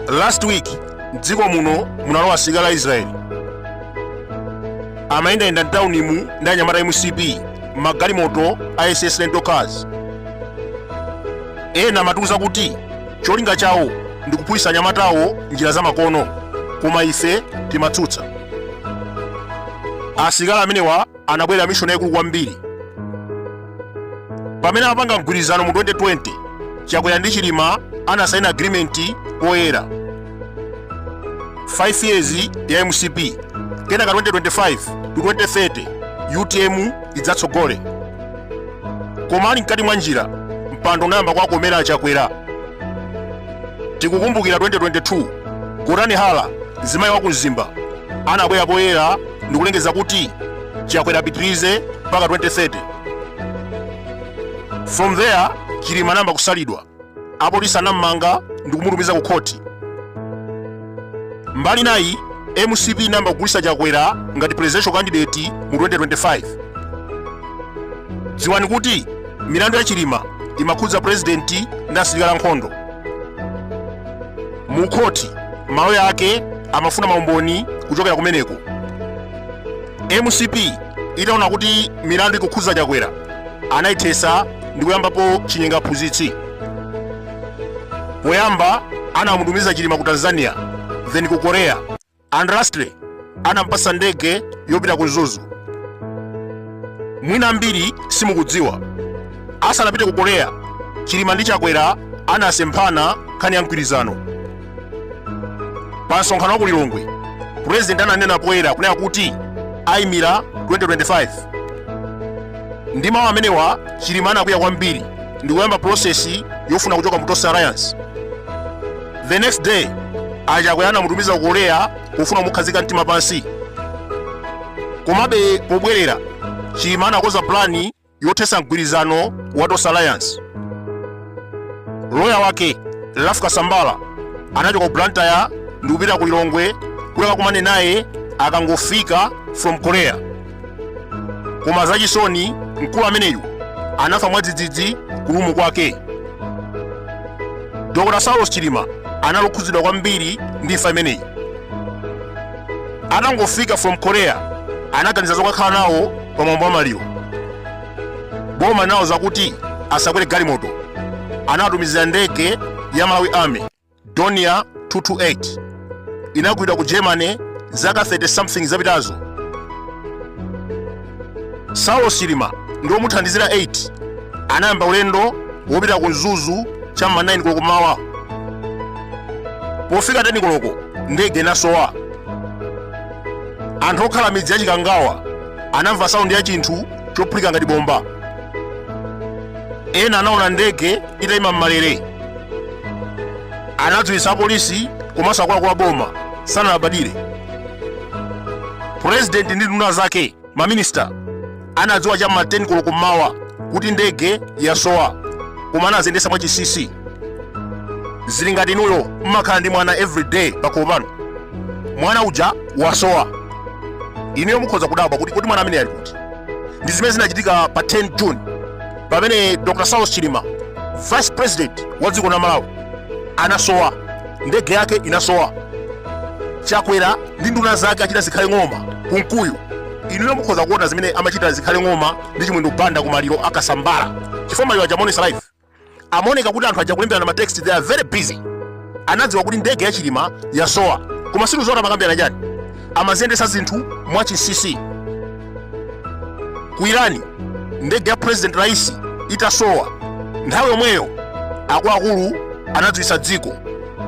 last week mdziko muno munalowa asilikali a israeli amayendayenda mtaunimu ndi anyamata a mcp magalimoto a ss rental cars ena amatiuza kuti Cholinga chawo ndi kuphunzitsa anyamatawo njira zamakono, koma ife timatsutsa. Asilikali amenewa anabwerera mishoni yaikulu kwambiri. Pamene amapanga mgwirizano mu 2020, Chakwera ndi Chilima anasaina agirimenti poyera. 5 years ya mcp kenaka 2025 to 2030 utm idzatsogole koma ali mkati mwa njira mpando unayamba kwakomera achakwera tikukumbukira 2022 gotani hara mzimayi wa ku mzimba anabwera poyera ndikulengeza kuti chakwera apitirize mpaka 2030 from there chilima anayamba kusalidwa apolisi anam'manga ndi kumutumiza ku khoti mbali nayi mcp inayamba kugulitsa chakwera ngati presidential candidate mu 2025 dziwani kuti milandu ya chilima imakhudza purezidenti ndi asilikali ankhondo mu khoti maloya ake amafuna maumboni kuchokera kumeneko mcp itaona kuti milandu ikukhudza chakwera anayithetsa ndi kuyambapo chinyenga mphunzitsi poyamba anamutumiza chilima ku tanzania then ku korea and lastly anampasa ndege yopita ku mzuzu mwina ambiri simukudziwa asanapite ku korea chilima ndi chakwera anasemphana nkhani ya mgwirizano pa msonkhano wa ku lilongwe purezidenti ananena poyera kunena kuti ayimira 2025 ndi mawu amenewa chilima anakwiya kwambiri ndi kuyamba pulosesi yofuna kuchoka mu tonse alliance the next day chakwera anamutumiza ku korea pofuna kumukhazika mtima pansi komabe pobwerera chilima anakonza plani yothetsa mgwirizano wa tonse alliance loya wake ralph kasambara anachoka ku blantyre ndi kupita ku lilongwe kuti akakumane naye akangofika from korea koma zachisoni mkulu ameneyu anafa mwadzidzidzi ku lumu kwake dr saulos chilima anali okhudzidwa kwambiri ndi imfa imeneyi atangofika from korea anaganiza zokakhala nawo pa mwambo wa maliro boma nawauza kuti asakwere galimoto anawatumizira ndege ya malawi army dornier 228 inagulidwa ku germany zaka 30 something zapitazo saulos chilima ndi omuthandizira 8 anayamba ulendo wopita ku mzuzu cha ma 9 koloko mmawa pofika 10 koloko ndege inasowa anthu okhala midzi ya chikangawa anamva saundi ya chinthu chophulika ngati bomba ena anaona ndege itayima m'malere anadziwitsa apolisi komanso akuluakulu a boma sanalabadire purezidenti ndi nduna zake maminista anadziwa cha ma 10 koloko mmawa kuti ndege yasowa koma anaziyendetsa mwachinsinsi zili ngati inuyo mumakhala ndi mwana everyday pakhomo pano mwana uja wasowa inuyo mukhoza kudabwa kuti kuti mwana ameneyu ali kuti ndi zimene zinachitika pa 10 june pamene dr saulos chilima vice president wa dziko la malawi anasowa ndege yake inasowa chakwera ndi nduna zake a richard chimwendo banda zikhale ng'oma kunkuyu inuyo mukhoza kuona zimene amachita zikhale ng'oma ndi chimwendo banda kumaliro a kasambara chifukwa maliro aja amaonetsa live amaoneka kuti anthu aja akulemberana ma text they are very busy anadziwa kuti ndege ya chilima yasowa koma sitikudziwa zoti amakambirana chani amaziyendetsa zinthu mwachinsinsi ku iran ndege ya president raisi itasowa nthawi yomweyo akuluakulu anadziwitsa dziko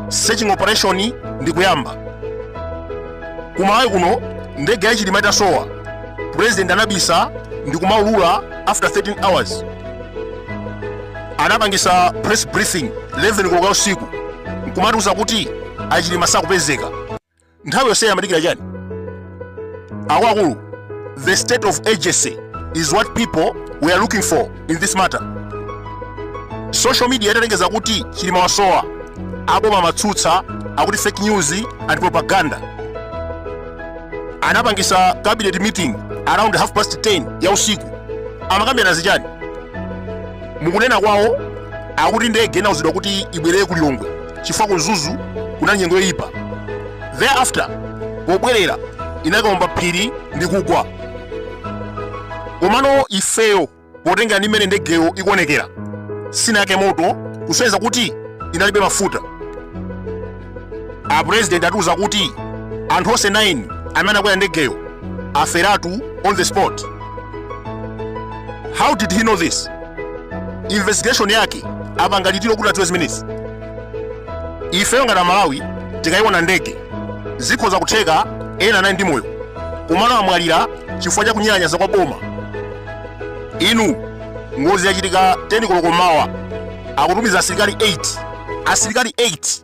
searching operation ndi kuyamba ku malawi kuno ndege ya chilima itasowa president anabisa ndi kumaulula after 13 hours anapangisa press briefing 11 koloko usiku nkumatiuza kuti achilima sakupezeka nthawi yonseyi amadikira chani akuluakulu the state of urgency is what people were looking for in this matter social media italengeza kuti chilima wasowa aboma amatsutsa akuti fake news and propaganda anapangisa cabinet meeting around half past 10 ya usiku amakambirana zichani mukunena kwawo akuti ndege inauzidwa kuti ibwerere ku lilongwe chifukwa ku mzuzu kunali nyengo yoyipa thereafter pobwerera inakaomba phiri ndi kugwa komano ifeyo potengera ndi mmene ndegeyo ikuonekera sinayake moto kusonyeza kuti inalibe mafuta apurezidenti atiuza kuti anthu onse 9 amene anakwera ndegeyo aferatu on the spot how did he know this investigation yake apanga litiro kuti adziwe zimenezi ifeyo ngati amalawi tikayiona ndege zikhoza kutheka ena anali ndi moyo komano amwalira chifukwa cha kunyalanyaza kwa boma inu ngozi yachitika 10 koloko mmawa akutumiza asilikali 8 asilikali 8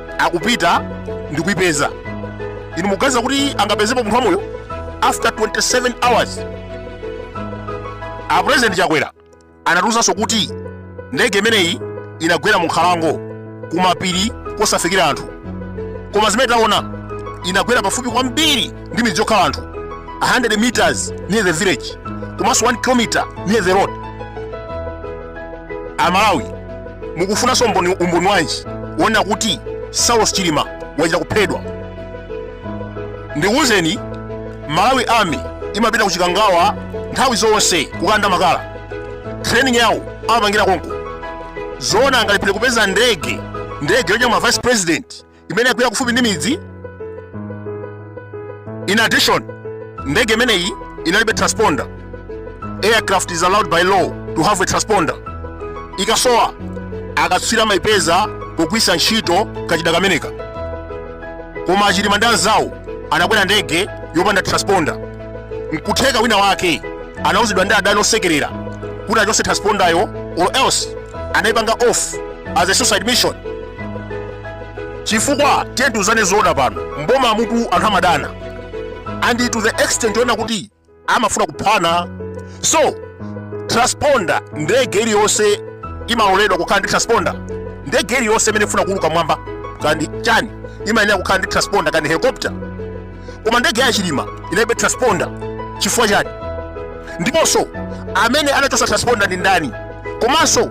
akupita ndi kuipeza inu muganiza kuti angapezepo munthu wamoyo after 27 hours a president chakwera anatiuzanso kuti ndege imeneyi inagwera mu nkhalango kumapiri kosafikira anthu koma zimene taona inagwera pafupi kwambiri ndi midzi yokhala anthu 100 meters near the village komanso 1 kilometer near the road amalawi mukufunanso umboni wanji woonera kuti saulos chilima wachita kuphedwa ndikuwuzeni malawi army imapita ku chikangawa nthawi zonse kukanda makala training yawo amapangira konko zoona angalephere kupeza ndege ndege yonyamula vice president imene yagwera kufupi ndi midzi in addition ndege imeneyi inalibe transponder aircraft is allowed by law to have a transponder ikasowa akatswiri amaipeza pogwiritsa ntchito kachida kameneka koma achilima ndi anzawo anakwera ndege yopanda transponder nkutheka wina wake anauzidwa ndi adani osekelera kuti achotse transponder yo or else anaipanga off as a suicide mission chifukwa tiyeni tiuzane zoona pano mboma umutu anthu amadana and to the extent yoona kuti amafuna kuphana so transponder ndege iliyonse imaloledwa kukhala ndi transponder ndege iliyonse imene ifuna kuuluka mmwamba kandi chani imayenera kukhala ndi transponder kandi helicopter koma ndege ya chilima inalibe transponder chifukwa chani ndiponso amene anachotsa transponder ndi ndani komanso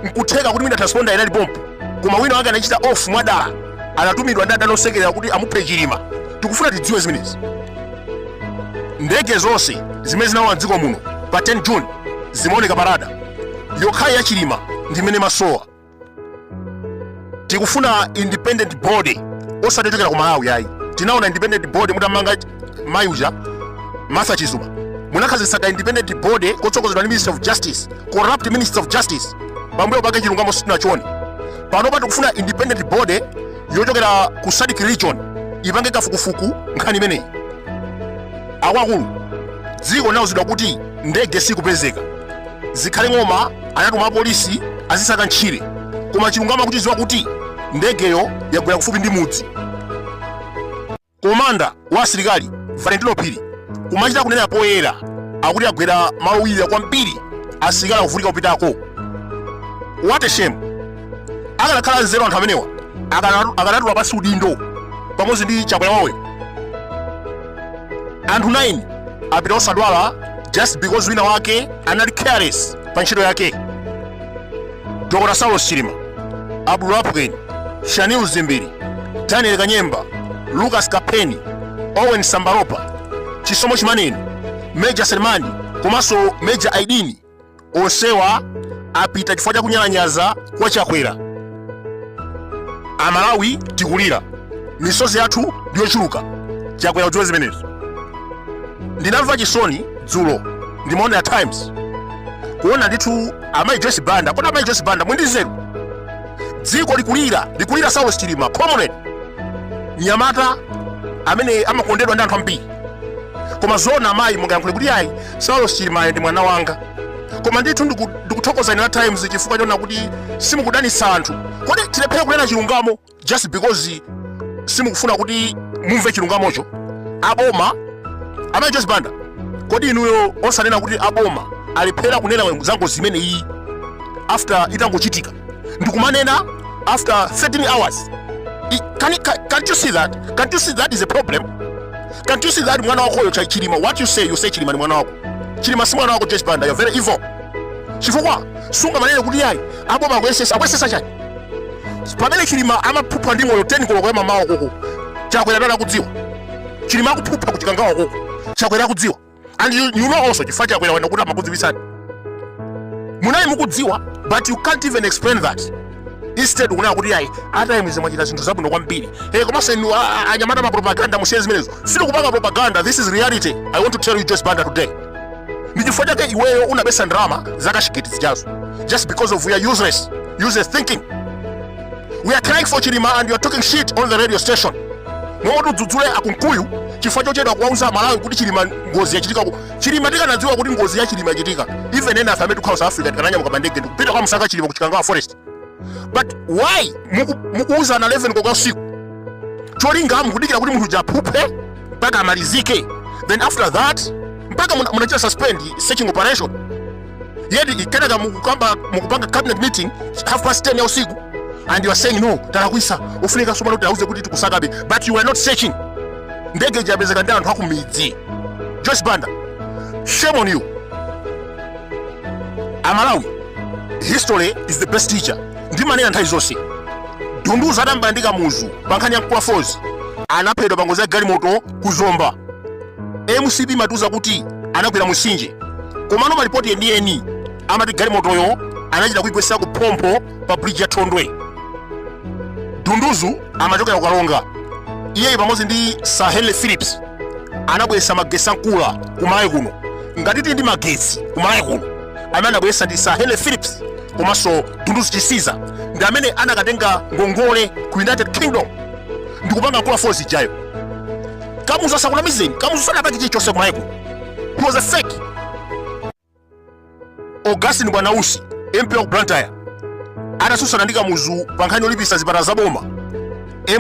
nkutheka kuti mwina transponder inali pompo koma wina wake anachita off mwadala anatumidwa ndi adani osekerera kuti amuphe chilima tikufuna tidziwe zimenezi ndege zonse zimene zinalowa mdziko muno pa 10 june zimaoneka pa radar yokhayo ya chilima ndi imene imasowa tikufuna independent body osati yochokera ku malawi ayi tinaona independent body mutammanga mayi uja martha chizuma munakhazikitsa ka independent body kotsogozedwa ndi minister of justice corrupt minister of justice pambuyo pake chilungamo sitinachione panopa tikufuna independent body yochokera ku sadc region ipange kafukufuku nkhani imeneyi akuluakulu dziko linauzidwa kuti ndege sikupezeka zikhale ng'oma anatuma apolisi azisaka ntchire koma chilungamo akuchidziwa kuti ndegeyo yagwera kufupi ndi mudzi komanda wa asilikali valentino phiri kumachita kunena poyera akuti agwera malo owirira kwambiri asilikali akuvutika kupitako what a shame akanakhala nzeru anthu amenewa akanatula pansi udindo pamodzi ndi chakwera wawoyo anthu 9 apita osadwala just because wina wake anali careless pa ntchito yake dr saulos chilima abdul lapukeni shanil dzimbiri daniel kanyemba lucas kapheni owen sambalopa chisomo chimaneni major selemani komanso major aidini onsewa apita chifukwa cha kunyalanyaza kwa chakwera amalawi tikulira misozi yathu ndiyochuluka chakwera udziwe zimenezo ndinamva chisoni dzulo ndimaona ya times kuona ndithu amayi joyce banda kodi amayi joyce banda muli ndi nzeru dziko likulira likulira saulos chilima comrade mnyamata amene amakondedwa ndi anthu ambiri koma zoona amayi mungayankhule kuti ayi saulos chilimayo ndi mwana wanga koma ndithu ndiku- ndikuthokoza inu a times chifukwa chonena kuti simukudanisa anthu kodi tilephere kunena chilungamo just because simukufuna kuti mumve chilungamocho aboma amayi joyce banda kodi inuyo osanena kuti aboma alephera kunena za ngozi imene iyi after itangochitika ndikumanena after 13 hours can, can, can't you see that can't you see that is a problem can't you see that mwana wakoyo chilima what you say you say chilima ni mwana wako chilima si mwana wako joyce banda you're very evil chifukwa sungamanene kuti yayi aboma akuyesesa akuyesesa chani pamene chilima amaphupha ndi moyo 10 koloko ya mamawa koma chakwera dala kudziwa chilima akuphupha kuchikangawa koma chakwera kudziwa and you, you know also chifukwa chakwera wanena kuti amakudziwisani munali mukudziwa but you can't even explain that instead kunena kuti ayi a times mwachita zinthu zabwino kwambiri e komanso inu a- a- anyamata ma propaganda musiye zimenezo sitikupanga propaganda this is reality i want to tell you joyce banda today ndi chifukwa chake iweyo unabesa ndalama za cashgate zijazo just because of your useless useless thinking we are crying for chilima and you are talking shit on the radio station momwe tidzudzule akunkuyu chifukwa chochedwa kuwauza amalawi kuti chilima ngozi yachitika ku- chilima tikanadziwa kuti ngozi ya chilima yachitika even ena a ife amene tikhala south africa tikananyamuka pa ndege ndikupita kukamsaka chilima ku chikangawa forest but why muku- mukuuzana 11 koloko usiku cholinga mukudikira kuti munthu aphuphe mpaka amalizike then after that mpaka muna- munachita suspend searching operation yet kenaka mukupanga cabinet meeting half past 10 ya usiku and you are saying no talakwisa ofunika sopano tiwauze kuti tikusakabe but you were not searching ndege ija yapezeka ndi anthu akumidzi joyce banda shame on you amalawi history is the best teacher ndimanena nthawi zonse dunduzu adambwandika muzu pa nkhani ya nkula falls anaphedwa pa ngozi ya galimoto ku zomba mcp imatiuza kuti anagwera mutsinje komano malipoti enieni amati galimotoyo anachita kuigwetsera ku phompho pa bridge ya thondwe dunduzu amachokera ku karonga iyeyi pamodzi ndi sir henry phillips anabweretsa magetsi a nkula ku malawi kuno ngati tili ndi magetsi ku malawi kuno amene anabweretsa ndi sir henry phillips komanso dunduzu chisiza ndi amene anakatenga ngongole ku united kingdom ndikupanga nkula falls ijayo kamuzu asakunamizeni kamuzu sanapange chilichonse kumalawi kuno he was a fake augustine bwanausi mp wa ku blantyre adasusana ndi kamuzu pa nkhani yolipisa zipatala za boma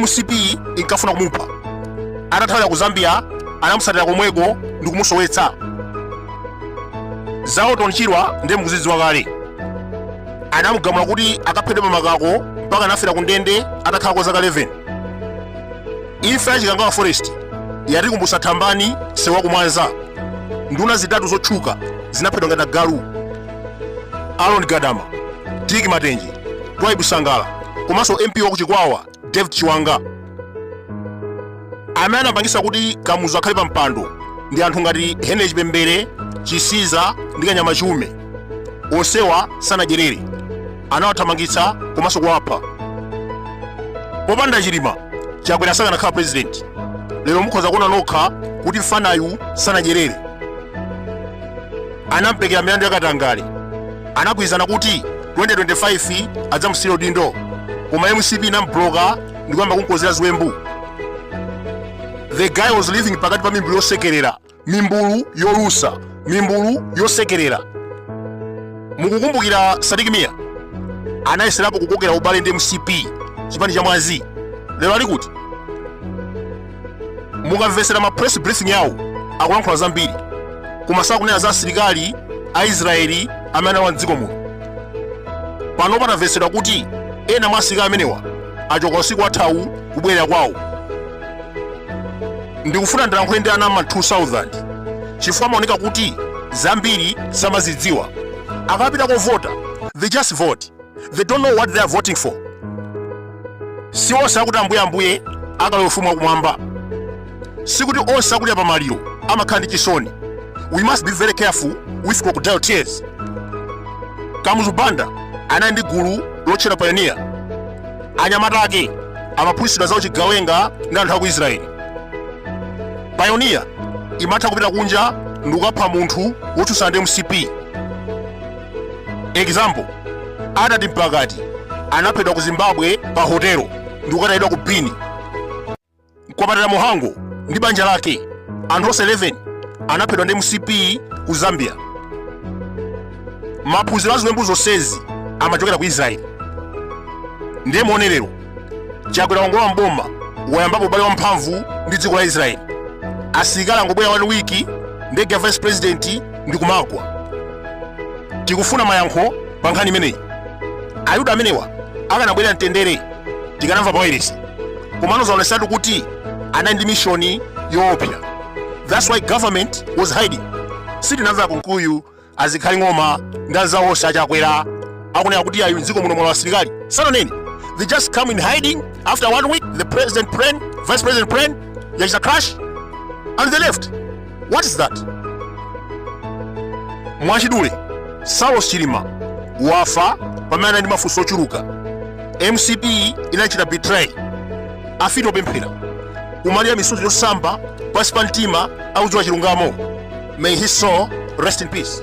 mcp inkafuna kumupha atathawa ku zambia anamusatira komweko ndi kumusowetsa za orton chirwa ndiye mukuzidziwa kale anamugamula kuti akaphedwe pamakako mpaka anafera ku ndende atakhala kwa zaka 11 imfa ya chikangawa forest yatikumbutsa thambani sewa kumwanza nduna zitatu zotchuka zinaphedwa ngati agalu aaron gadama dick matenje twaibu sangala komanso mp waku chikwawa david chiwanga amene anapangisa kuti kamuzu akhale pa mpando ndi anthu ngati henry chipembere chisiza ndi kanyama chiume onsewa sanadyerere anawathamangitsa komanso kuwapha popanda chilima chakwera sakanakhala president lero mukhoza kuona nokha kuti mfanayu sanadyerere anampekera milandu yakatangale anagwirizana kuti 2025 adzamusiyira udindo koma mcp inamubloka ndikuyamba kumkozera ziwembu the guy was living pakati pa mimbulu yosekerera mimbulu yolusa mimbulu yosekerera mukukumbukira sidik mia anayeserapo kukokera ubale ndi mcp chipani cha mwazi lero ali kuti mukamvetsera ma press briefing awo akulankhula zambiri koma sakunena za asilikali a israeli amene analowa mdziko muno pano pakumvetsedwa kuti ena mwa asilikali amenewa achoka usiku wathawu kubwerera kwawo ndikufuna ndilankhule ndi ana ma 2000 chifukwa amaoneka kuti zambiri samazidziwa akapita kovota they just vote they don't know what they are voting for si onse akuti ambuyeambuye akalowa ufumu wakumwamba sikuti onse akudya pa maliro amakhala ndi chisoni we must be very careful with crocodile tears kamuzu banda anali ndi gulu lotchedwa payoniya anyamata ake amaphunzitsidwa za uchigawenga ndi anthu a ku israeli payoniya imatha kupita kunja ndi kukapha munthu wotsutsana ndi mcp example Attati Mpakati anaphedwa ku zimbabwe pa hotelo ndi kukatayidwa ku bini Mkwapatira Mhango ndi banja lake, anthu onse 11 anaphedwa ndi mcp ku zambia maphunziro a ziwembu zonsezi amachokera ku israeli ndiye muone lero chakwera wangolowa m'boma wayambapo ubale wa mphamvu ndi dziko la israeli asilikali angobwera one wiki ndege ya vice president ndi kumagwa tikufuna mayankho pa nkhani imeneyi ayuda amenewa akanabwera mwamtendere tikanamva pa wayilesi komano zaonesatu kuti anali ndi mishoni yoopsa that's why government was hiding sitinamva akunkuyu azikhali ng'oma ndi anzawo onse achakwera akunena kuti ayi mdziko muno mwalowa asilikali sananeni they just come in hiding after one week the president plane vice president plane yachita crash and they left What is that? Mwachidule, Saulos Chilima wafa pamene anali ndi mafunso ochuluka. MCP inachita betray. Afiti opemphera. Kumalira misozi yosamba pansi pa mtima akudziwa chilungamo. May his soul rest in peace.